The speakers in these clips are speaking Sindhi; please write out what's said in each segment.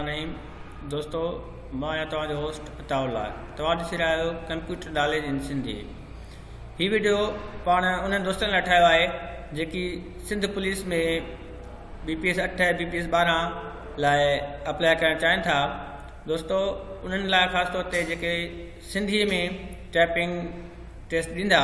العليم دوستو مان آهيان توهان جو هوسٽ عطا الله توهان ڏسي رهيا آهيو ڪمپيوٽر ناليج ان سنڌي هي ويڊيو پاڻ انهن دوستن لاء ٺاهيو آهي جيڪي Sindh police ۾ B P S اٺ بي پي ايس ٻارهن لاء اپلاء ڪرڻ چاهين ٿا دوستو انهن لاء خاص طور تي جيڪي سنڌي ۾ ٽائپنگ ٽيسٽ ڏيندا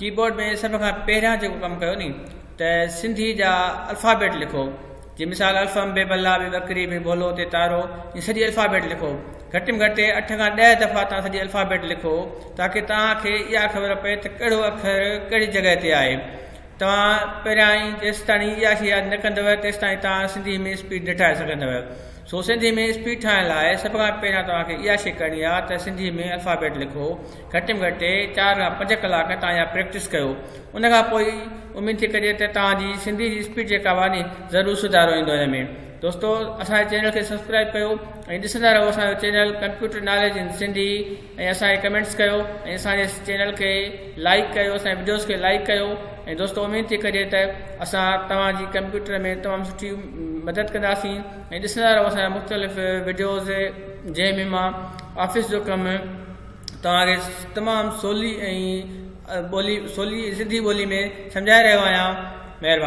ڪيبورڊ ۾ سڀ کان پهريان جيڪو ڪم ڪيو ني ته سنڌي جا الفابيٽ لکو جي مثال الفم بي بلا بي بڪري بي بولو تي تارو جي سڄي الفابيٽ لکو گهٽ ۾ گهٽ اٺ کان ڏهه دفعا تان سڄي الفابيٽ لکو تاڪي توهان کي اها خبر پئي ته ڪهڙو اکر ڪهڙي جڳهه تي آهي توهان پهريان ئي جيستاڻي اها شي ياد نه ڪندو تيستاڻي توهان سنڌي ۾ اسپيڊ نه ٺاهي سگهندو سو سنڌي ۾ اسپيڊ ٺاهڻ لاء سڀ کان پهريان توهان کي اها شي ڪرڻي آهي ته سنڌي ۾ الفابيٽ لکو گهٽ ۾ گهٽ چار کان پنج ڪلاڪ تان اها پريڪٽس ڪيو ان کان پوء ئي اميد ٿي ڪجي ته توهان جي سنڌي جي اسپيڊ جيڪا به آهي ضرور سڌارو ايندو هن ۾ دوستو اسان جي چينل کي سبسڪرائب ڪيو ۽ ڏسندا رهو اسان جو channel computer knowledge in Sindhi ۽ اسان کي ڪمينٽس ڪيو ۽ اسان جي چينل کي لائڪ ڪيو اسان جي وڊيوز کي لائڪ ڪيو ۽ دوستو اميد ٿي ڪجي ته اسان توهان جي ڪمپيوٽر ۾ تمام سٺي مدد ڪنداسين ۽ ڏسندا رهو اسان جا مختلف وڊيوز جنهن ۾ مان آفيس جو ڪم توهان کي تمام سولي ۽ ٻولي سولي سنڌي ٻولي ۾ سمجهائي رهيو آهيان مهرباني